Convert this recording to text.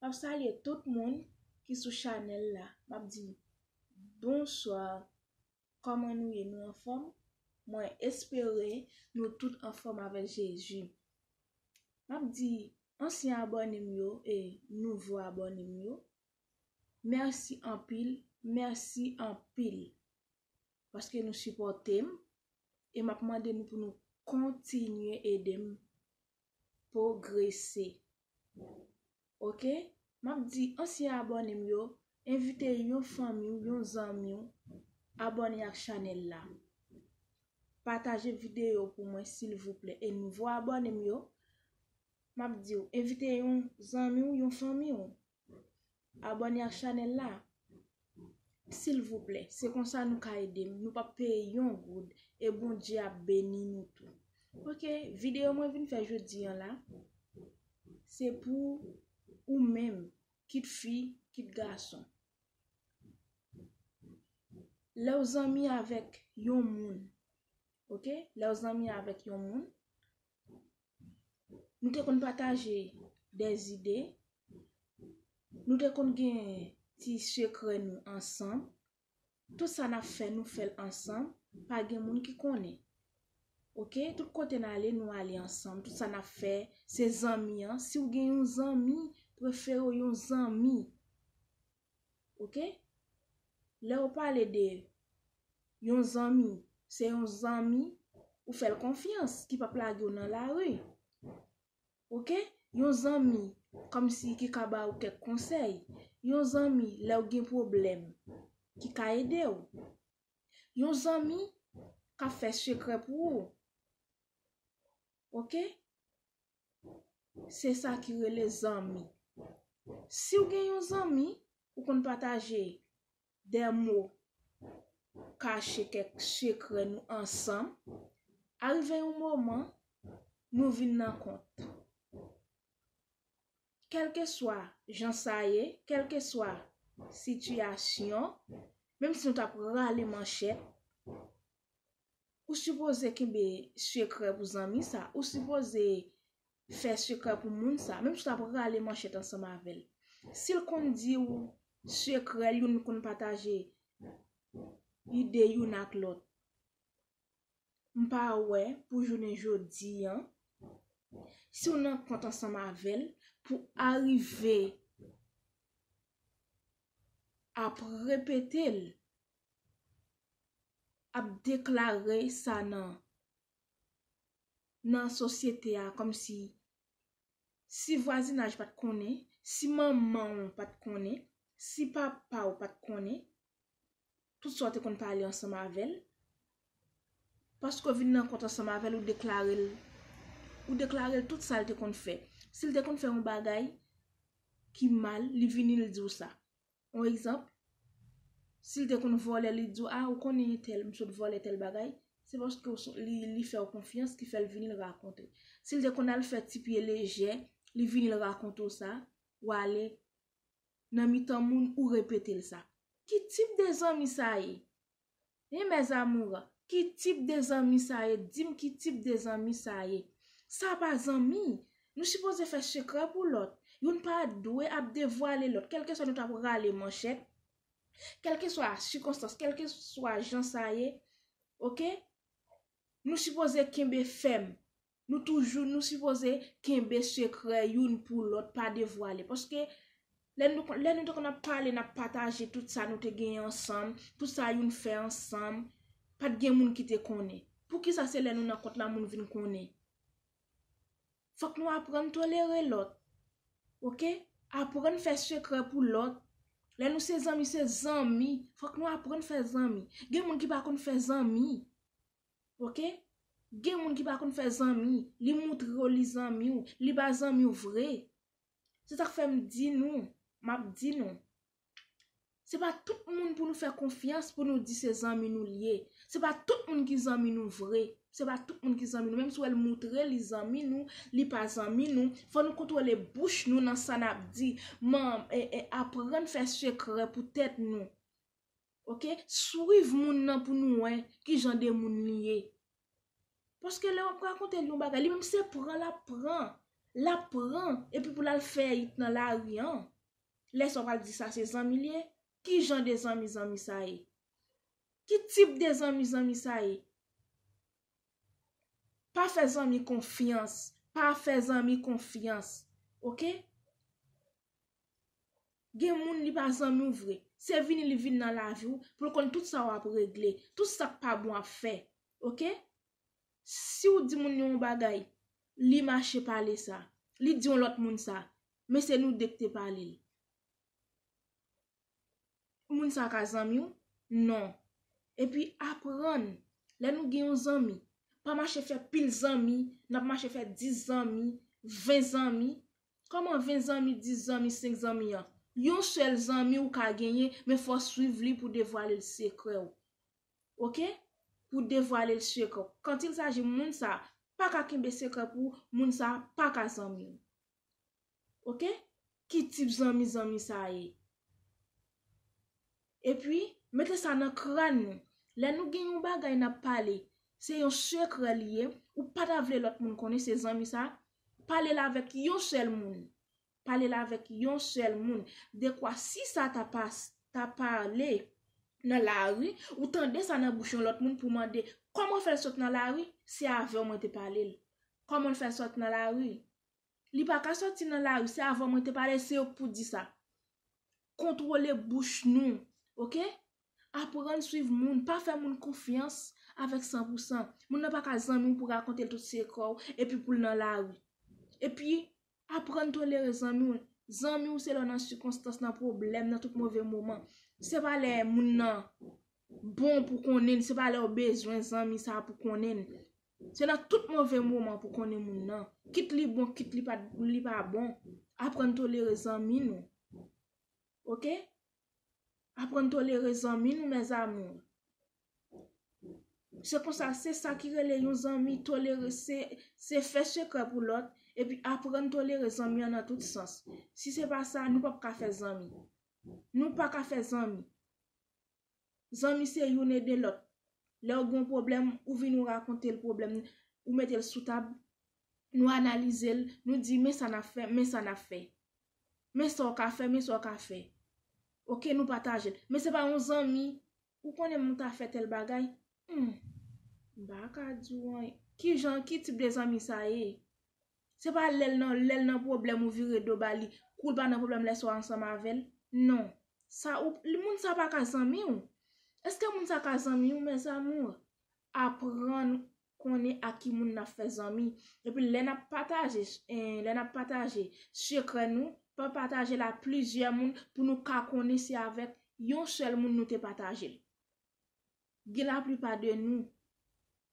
Map salye tout moun ki sou chanèl la map di bonsoir kòman nou ye nou anfòm mwen espere nou tout anfòm avèk Jezi map di ansyen abòne m yo e nouvo abòne m yo mèsi anpil mèsi anpil paske nou sipòte m e map mande nou pou nou kontinye ede m pwogrese ok map di ansyen abòne m yo envite yon fanmi w yon zanmi w abòne ak chanèl la pataje video pou mwen silvouplè e nouvo abòne m yo map di w envite yon zanmi w yon fanmi w Abone ak chanel la silvouplè se konsa nou ka edem nou pap peye yon goud e Bondye ap beni nou tou ok video mwen vin fè jodi an la se pou ou menm kit fi kit gason lèw zanmi avèk yon moun ok lèw zanmi avèk yon moun nou te konn pataje de zide, nou te konn gen ti sekrè nou ansanm, tout sa nap fè nou fèl ansanm, pa gen moun ki konnen. Ok, tout kote nan ale nou ale ansanm, tout sa nap fè, se zanmi an, si ou gen yon zanmi, prefere ou yon zanmi. ok lèw pale de Yon zanmi se Yon zanmi ou fèl konfyans ki pap lagew nan lari ok Yon zanmi kòmsi ki ka baw kèk konsèy Yon zanmi lèw gen pwoblèm ki ka edew Yon zanmi kap fè sekrè pou ou ok. Se sa ki rele zanmi. Si w gen yon zanmi, ou konn pataje de mo kache kèk sekrè nou ansanm, arive yon moman, nou vin nan kont. Kèlkeswa jan sa ye, kèlkeswa sitiyasyon, menm si nou t ap rale manchèt, Ou sipoze kenbe sekrè pou zanmi sa. Ou sipoze fè sekrè pou moun sa. Menm si w ta pral rale manchèt ansanm avè l. Si l konn di w sekrè l, youn konn pataje ide youn ak lòt. M pa wè pou jounen jodi an, si w nan kont ansanm avè l, pou arive ap repete l ap deklare sa nan nan sosyete a kòm si si vwazinaj pat konnen, si manman ou pat konnen, si papa ou pat konnen, tout sa ou te konn pale ansanm avèl, paske ou vin nan kont ansanm avèl ou deklarel ou deklarel tout sal te konn fè. Sil te konn fè yon bagay ki mal, li vini li diw sa. On egzanp, si l te konn vòlè li di w, a ou konnen entèl, m sot vòlè tèl bagay, se paske li fè w konfyans ki fè l vini l rakonte. Si l te konn al fè ti pye lejè, li vini l rakonte w sa, w ale nan mitan moun ou repete l sa. Ki tip de zanmi sa ye? Hi mes amours ki tip de zanmi sa ye dim ki tip de zanmi sa ye sa pa zanmi nou sipoze fè sekrè pou lòt youn pa dwe ap devwale lòt kèlkeswa nou tap rale manchèt kèlkeswa sikonstans kèlkeswa jan sa ye ok nou sipoze kenbe fèm Nou toujou nou sipoze kenbe sekrè youn pou lòt pa devwale. Paske lè nou te konn ap pale nap pataje tout sa nou te genyen ansanm, tout sa youn fè ansanm, pat gen moun ki te konnen. Poukisa se lè nou nan kont la moun vin konnen? Fòk nou aprann tolere lòt. Ok, aprann fè sekrè pou lòt. Lè nou se zanmi se zanmi, fòk nou aprann fè zanmi. Gen moun ki pa konn fè zanmi. Ok gen moun ki pa konn fè zanmi li moutre yo li zanmi ou li pa zanmi ou vre se sak fèm di nou map di nou se pa tout moun pou nou fè konfyans pou nou di se zanmi nou li ye se pa tout moun ki zanmi nou vre se pa tout moun ki zanmi nou menm si wèl moutre li zanmi nou li pa zanmi nou fò nou kontwole bouch nou nan sa nap di man e aprann fè sekrè pou tèt nou ok swiv moun nan pou nou wè ki jan de moun li ye paske lè wap rakonte li yon bagay li menm se pran lap pran lap pran epi pou lal fè it nan lari an lè sa wap al di sa se zanmi li ye ki jan de zanmi zanmi sa ye ki tip de zanmi zanmi sa ye. Pa fè zanmi konfyans. Pa fè zanmi konfyans. Ok? Gen moun li pa zanmi w vre. Se vini li vini nan lavi w pou l konn tout sa w ap regle. Tout sa k pa bon w ap fè. Ok? Si w di moun yon bagay, li mache pale sa. Li di yon lòt moun sa. Men se nou de k te pale l. moun sa ka zanmi w? Non. Epi aprann, lè nou gen yon zanmi, pa mache fè pil zanmi, n ap mache fè 10 zanmi, 20 zanmi. Kòman 20 zanmi, 10 zanmi, 5 zanmi an? Yon sèl zanmi ou ka genyen, men fò w swiv li pou devwale l sekrè w. Ok? Pou w devwale l sekrè w. Kantilsaji moun sa, pa ka kenbe sekrè pou ou, moun sa, pa ka zanmi w. ok ki tip zanmi zanmi sa ye epi mete sa nan kran nou lè nou gen yon bagay nap pale se yon sekrè li ye ou pa ta vle lòt moun konnen se zanmi sa pale l avèk yon sèl moun pale l avèk yon sèl moun dekwa si sa ta pas ta pale nan lari ou tande sa nan bouch yon lòt moun pou mande kòman fè l sot nan lari se avè w mwen te pale l kòman l fè l sot nan lari Li pa ka soti nan lari, se avan mwen te pale, se yo k pou di sa. Kontwole bouch nou, ok? Aprann swiv moun, pa fè moun konfyans avèk san pou san. Moun nan pa ka zanmi w pou rakonte l tout sekrè w, epi pou l nan lari. Epi, aprann tolere zanmi w. Zanmi w se lè w nan sikonstans, nan pwoblèm, nan tout move moman. Se pa lè moun nan bon pou konnen, se pa lè w bezwen zanmi sa pou konnen. Se nan tout move moman pou konnen moun nan, kit li bon kit li pa bon, aprann tolere zanmi nou. Ok? Aprann tolere zanmi nou mes amours. Se konsa se sa ki rele yon zanmi tolere se fè sekrè pou lòt epi aprann tolere zanmi an nan tout sans. Si se pa sa nou pap ka fè zanmi. Nou pa ka fè zanmi. Zanmi se youn ede lòt. Lè ou gen yon pwoblèm, ou vini ou rakonte l pwoblèm nan, ou mete l sou tab, nou analize l, nou di men sa n ap fè, men sa n ap fè. Men sa w ka fè, men sa w ka fè. Ok, nou pataje l. Men se pa yon zanmi, ou konnen m ta fè tèl bagay? Hum! M pa ka di w anyen. Ki jan, ki tip de zanmi sa ye? Se pa lè l nan lè l nan pwoblèm ou vire do ba li, kou l pa nan pwoblèm lè sa w ansanm avè l. Non. Sa ou, moun sa pa ka zanmi w. Eske moun sa ka zanmi w mes amours? Aprann konnen ak ki moun n ap fè zanmi. Epi lè n ap pataje, lè n ap pataje sekrè nou, pa pataje l a plizyè moun pou nou ka konnen se avèk yon sèl moun nou te pataje l. Gen laplipa de nou,